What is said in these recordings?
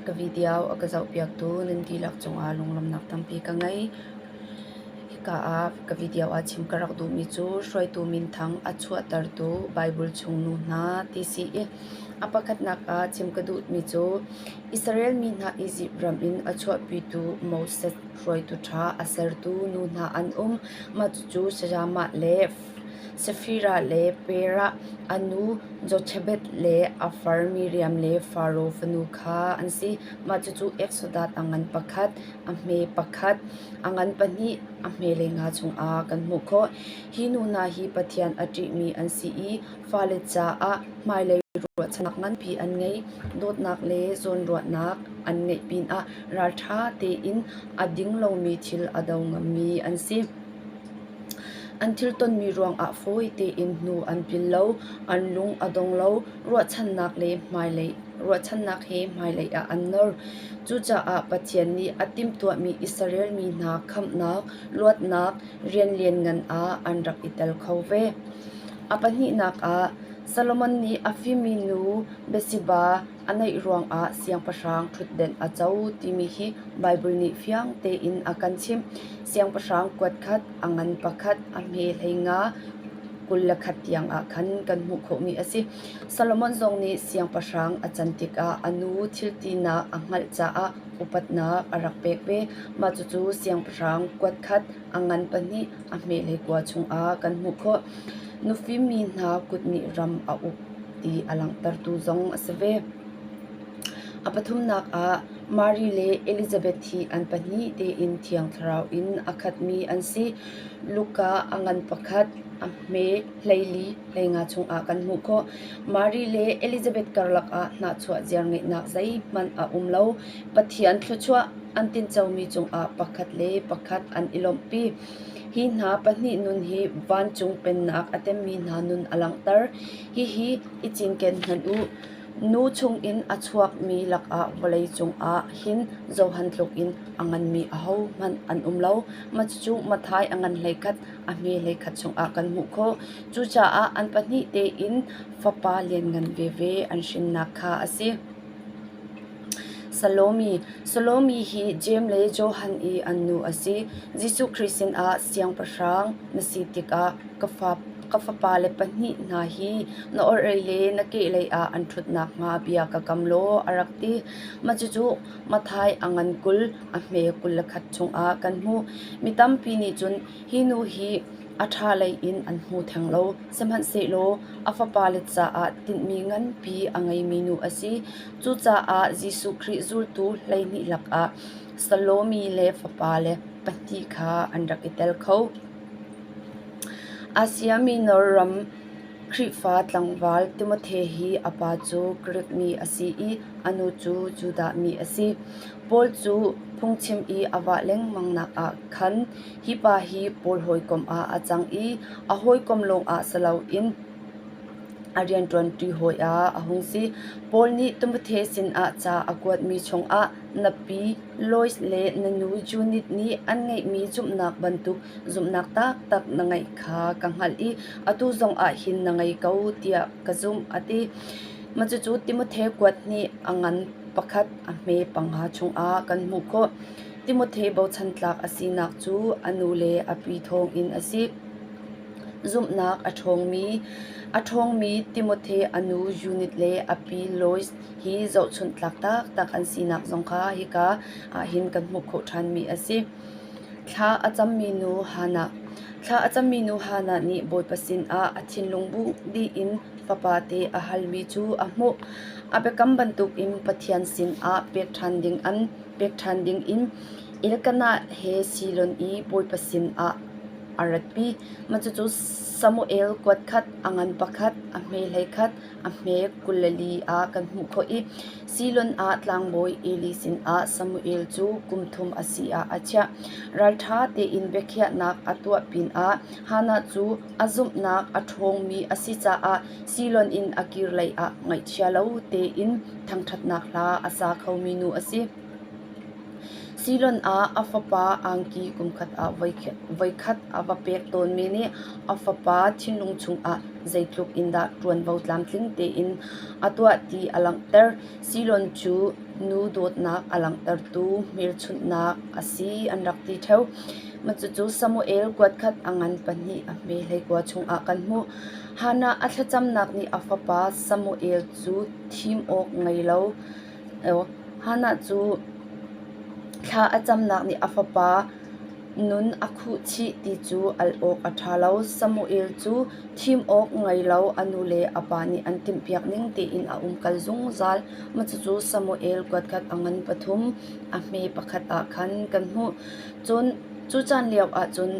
Ka video a ka zohpiaktu nan dihlak cungah lunglawmhnak tampi ka ngei. Hika ah ka video ah chim ka rak duhmi cu hruaitu minthang a chuahtertu Baibal chung nu hna ti si i a pakhatnak ah chim ka duhmi cu Israel mi hna Izipt ram in a chuahpitu Moses hruaitu ṭha a sertu nu hna an um. Mah cucu sayamah le Safira le Perah a nu Jothabeth le a far Miriam le Faro fanu kha an si. Mah cucu Eksodat a ngan pakhat, a hme pakhat, a ngan pahnih, a hmelei nga chungah kan hmuh khawh. Hi nu hna hi Pathian a ṭihmi an si i fale caah hmailei ruahchannak nganpi an ngei. Dawtnak le zawnruahnak an ngeih pinah ralṭha tein a ding lomi thil a do ngammi an si. An thil tonmi ruangah fawi tein hnu an pil lo, an lung a dong lo, ruahchannak he hmailei ah an nor. Cucaah Pathian nih a timhtuahmi i sarelmi hna khamhnak, luatnak, rian lianngan ah an rak i tel kho ve. A pahnihnak ah, Solomon nih a fimmi nu, Bathsheba, A neih ruangah siangpahrang ṭhutdenh a co timi hi Baibal nih fiang tein a kan chimh. Siangpahrang kuat khat, a ngan pakhat, a hme hlei nga kul le khat tiangah khan kan hmuh khawhmi a si. Solomon zong nih siangpahrang a can tikah a nu thiltinak a hngalh caah upatnak a rak pek ve. Mah cucu siangpahrang kuat khat, A ngan pa nih a hmehlei kua chungah kan hmuh khawh. Nufim mi hna kut nih ram a uk ti a langhtertu zong a si ve. A pathumnak ah Mary le Elizabeth hi an pahnih tein thiang thlarau in a khatmi an si. Luka a ngan pakhat a hme hleili hleinga chungah kan hmuh khawh. Mary le Elizabeth karlak ah hnahchuah ziar ngeihnak zeihmanh a um lo. Pathian thluachuah an tincomi cungah pakhat le pakhat an i lawmhpi. Hi hna pahnih nun hi vancung pennak a temmi hna nun a langhter. Hihi i cinken hmanh u. Nu chungin a chuakmi lakah vawlei cungah hin zohan tlukin a nganmi ahohmanh an um lo. Cucu Matthai a ngan hleikhat a hme hleikhat chungah kan hmuh khawh. Cucaah an pahnih tein Fapa lianngan veve an hrinnak kha a si. Salomi hi Jeim le Johan i an nu a si. Jesuh Khrih sinah Siangpahrang na si tikah ka fapale pahnih hna hi na orhlei le na kehlei ah an ṭhut nakhnga bia ka kam law a rak ti. Cucu Mathai a ngan kul, a hme kul le khat chungah kan hmuh. Mi tampi nih cun hi nu hi A ṭha lei in an hmu theng lo, sihmanhsehlaw a Fapale caah tinhmi nganpi a ngeimi nu a si. Cucaah Jesuh Khrih zultu hleihnih lakah Salomi le fapale pahnih kha an rak i tel kho. Asia Minor ram Khrihfa tlangval Timothea hi a pa cu Grik mi a si i a nu cu Judah mi a si. Paul cu phungchim i a vah lengmangnak ah khan Hi pa hi pawl hawikom ah a cang i a hawikom lawngah si loin a rianṭuanṭi hawi ah a hung si. Paul nih Timothea sinah ca a kuatmi chungah na pi Lois le na nu Judith nih an ngeihmi zumhnak bantuk zumhnak taktak na ngeih kha ka hngalh i atu zongah hin na ngei ko tiah ka zumh a ti. Cucu Timothea kuat nih a ngan pakhat a hme panga chungah kan hmuh khawh. Timothea bochan tlak a sinak cu a nu le a pi thawngin a si. Zumhnak a ṭhawngmi a ṭhawngmi Timothea a nu Unit le a pi Lois hi zohchunh tlak taktak an sinak zong kha hika ah hin kan hmuh khawh ṭhanmi a si. Thla a cammi nu Hannah Thla a cammi nu Hannah nih Bawipa sinah a thinlung bu dih in fapate a halmi cu a hmuh. A biakam bantukin Pathian sinah pek ṭhan ding an pek ṭhan dingin Elkanah he Silon i bawipa sinah a ratpi. Cucu Samuel kuat khat, a ngan pakhat, a hme hlei khat, a hme kul le li ah kan hmuh khawh i Silon ah tlangbawi Eli sinah Samuel cu kum thum a si ah a chiah. Ralṭha tein biakhiahnak a tuah pinah Hannah cu a zumhnak a ṭhawngmi a si caah Siloan in a kir lei ah ngaihchia lo tein thangṭhatnak hla a sa khomi nu a si. Siloan ah a fapa angki kumkhat ah voikhat a va pek tawnmi nih a fapa thinlung chungah zeitluk in dah ṭuanvo tlamtling tein a tuah ti a langhter. Siloan cu nu dawtnak a langhtertu hmelchunhnak a si an rak ti ṭheu. Cucu Samuel kuatkhat a ngan pahnih a hme hlei kua chungah kan hmuh. Hannah a thlacamnak nih a fapa Samuel cu thim awk ngei lo Hannah cu thla a camnak nih a fapa nun a khuh chih ti cu al awk a ṭha lo. Samuel cu thim awk ngei lo a nu le a pa nih an timhpiak ning tiin a umkal zungzal. Cucu Samuel kuatkhat a ngan pathum a hme pakhat ah khan kan hmuh. Cu caan lio ahcun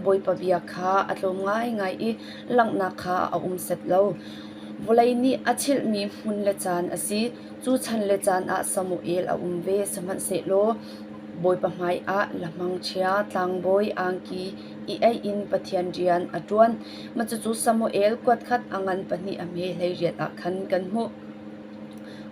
Bawipa bia kha a tlawm ngaingai i langhnak kha a um set lo. Vawlei nih a chilhmi hmun le caan a si, cu chan le caan ah Samuel a um ve, sihmanhsehlaw Bawipa hmaiah lamhangchia, tlangbawi angki i eih in Pathian rian a ṭuan. Cucu Samuel kuatkhat a ngan pahnih a hme hleiriat ah khan kan hmuh.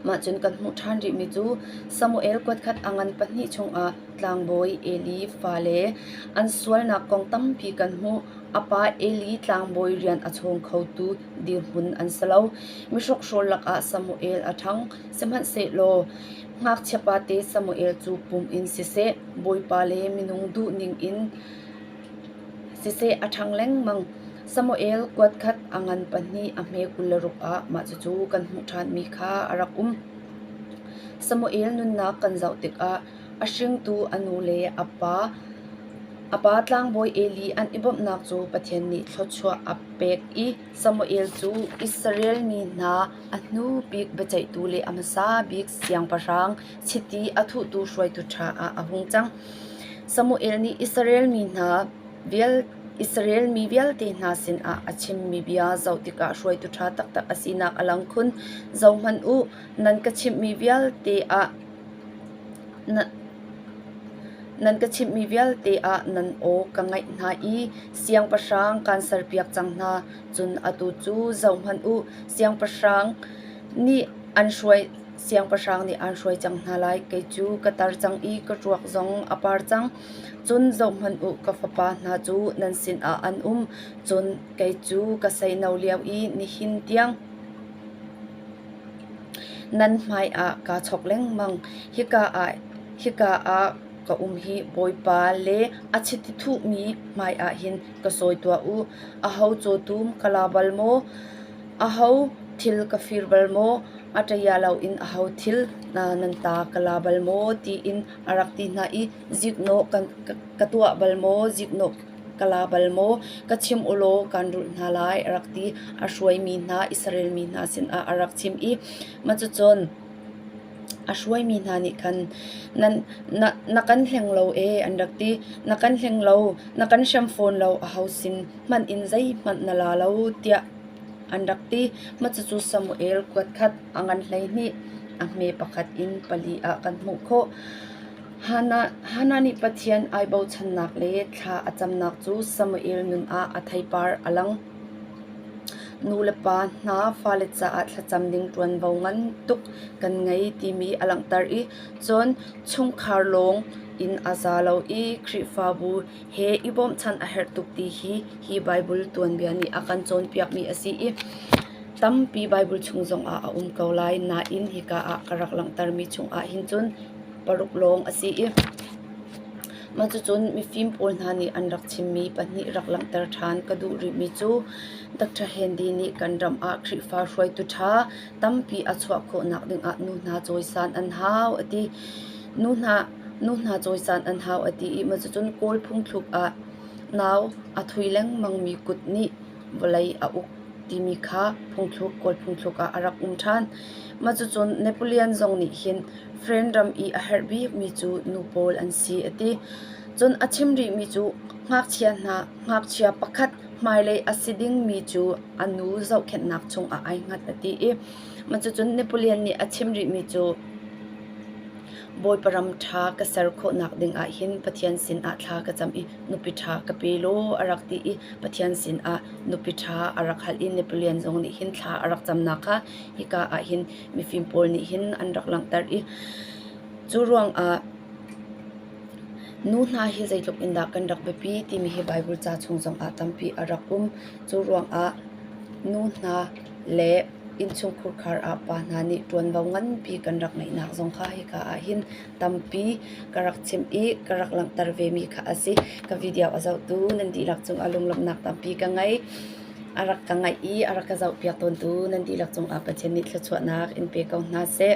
Mah cun kan hmuh ṭhan rihmi cu Samuel kuatkhat a ngan pahnih chungah tlangbawi Eli fale an sualnak kong tampi kan hmuh. A pa Eli tlangbawi rian a chawng khotu dirhmun an si lo. Mihrokhrol lakah Samuel a ṭhang, sihmanhsehlaw ngakchiapate Samuel cu pum in siseh, bawipa le minung duhning in siseh a ṭhang lengmang. Samuel kuatkhat a ngan pahnih a hme kul le ruk ah mah cucu kan hmuh ṭhanmi kha a rak um. Samuel nunnak kan zoh tikah a hringtu a nu le a pa tlangbawi Eli an i bawmhnak cu Pathian nih thluachuah a pek i Samuel cu Israel mi hna a hnu bik biaceihtu le a hmasa bik siangpahrang chiti a thuhtu hruaitu ṭha ah a hung cang. Samuel nih Israel mi hna Israel mi vialte hna sinah a chimmi bia zoh tikah hruaitu ṭha taktak a sinak a lang khun. Zohhmanh u, nan ka chimhmi vialte ah Nan ka chimhmi vialte ah nan aw ka ngaih hna i siangpahrang kaan serpiak cang hna, cun atu cu zohhmanh u, siangpahrang nih an hruai siangpahrang nih an hruai cang hna lai. Kei cu ka tar cang i ka ruak zong a par cang. Cun zohhmanh u, ka fapa hna cu nan sinah an um, cun kei cu ka seino lio i nihin tiang. Nan hmaiah kaa chawk lengmang. Hika ah ka um hi Bawipa le a chiti thuhmi hmaiah hin ka sawi tuah u. Aho cawtum ka la bal maw? Aho thil ka fir bal maw? A ṭaya loin aho thil nan ta ka la bal maw? tiin a rak ti hna i, "Ziknawh ka tuah bal maw? Ziknawh Ka la bal maw? Ka chim u law kaan rulh hna lai a rak ti. A hruaimi hna Israelmi hna sinah a rak chim i mah cucun a hruaimi hna nih khan na kan hleng lo ee an rak ti. Na kan hleng lo, na kan hrem fawn lo a ho sin hmanh in zeihmanh na la lo tiah an rak ti. Mah cucu Samuel kuatkhat a ngan hleihnih a hme pakhat in pali ah kan hmuh khawh. Hannah nih Pathian ai bochannak le thla a camnak cu Samuel nun ah a theipar a lang. Nulepa hna fale caah thlacam ding ṭuanvo ngan tuk kan ngei timi a langhter i cun chungkhar lawng in a za lo i Khrihfabu he i bawmchan a herh tuk ti hi hi Baibal tuanbia nih a kan cawnpiakmi a si i tampi Baibal chung zongah a um ko lai nain hika ah ka rak langhtermi chungah hin cun paruk lawng a si i mah cucun mifim pawl hna nih an rak chimmi pahnih rak langhter ṭhan ka duh rihmi cu Dr. Handy nih kan ram ah Khrihfa hruaitu ṭha tampi a chuah khawhnak dingah nu hna cawisan an hau a ti. Nu hna, nu hna cawisan an hau a ti i mah cucun Kawl phungthluk ah nau a thui lengmangmi kut nih vawlei a uk timi kha phungthluk Kawl phungthluk ah a rak um ṭhan. Mah cucun Napoleon zong nih hin France ram i a herh bikmi cu nu pawl an si a ti. Cun a chim rihmi cu ngakchia hna ngakchia pakhat hmailei a si dingmi cu a nu zohkhenhnak chungah ai hngat a ti i mah cucun Napoleon nih a chim rihmi cu Bawipa ram ṭha ka ser khawhnak dingah hin Pathian sinah thla ka cam i nupi ṭha ka pe law a rak ti i Pathian sinah nupi ṭha a rak hal i Napoleon zong nih hin thla a rak camnak kha hika ah hin mifim pawl nih hin an rak langhter i cu ruangah nu hna hi zeitluk in dah kan rak biapi timi hi Baibal ca chung zongah tampi a rak um. Cu ruangah nu hna le innchungkhur khar ah pa hna nih ṭuanvo nganpi kan rak ngeihnak zong kha hika ahhin tampi ka rak chimh i ka rak langhter vemi kha a si. Ka video a zohtu nan dihlak cung ah lunglawmhnak tampi ka ngei. A rak ka ngaih i a rak ka zohpiak tawntu nan dihlak cung ah Pathian nih thluachuahnak in pe ko hna seh.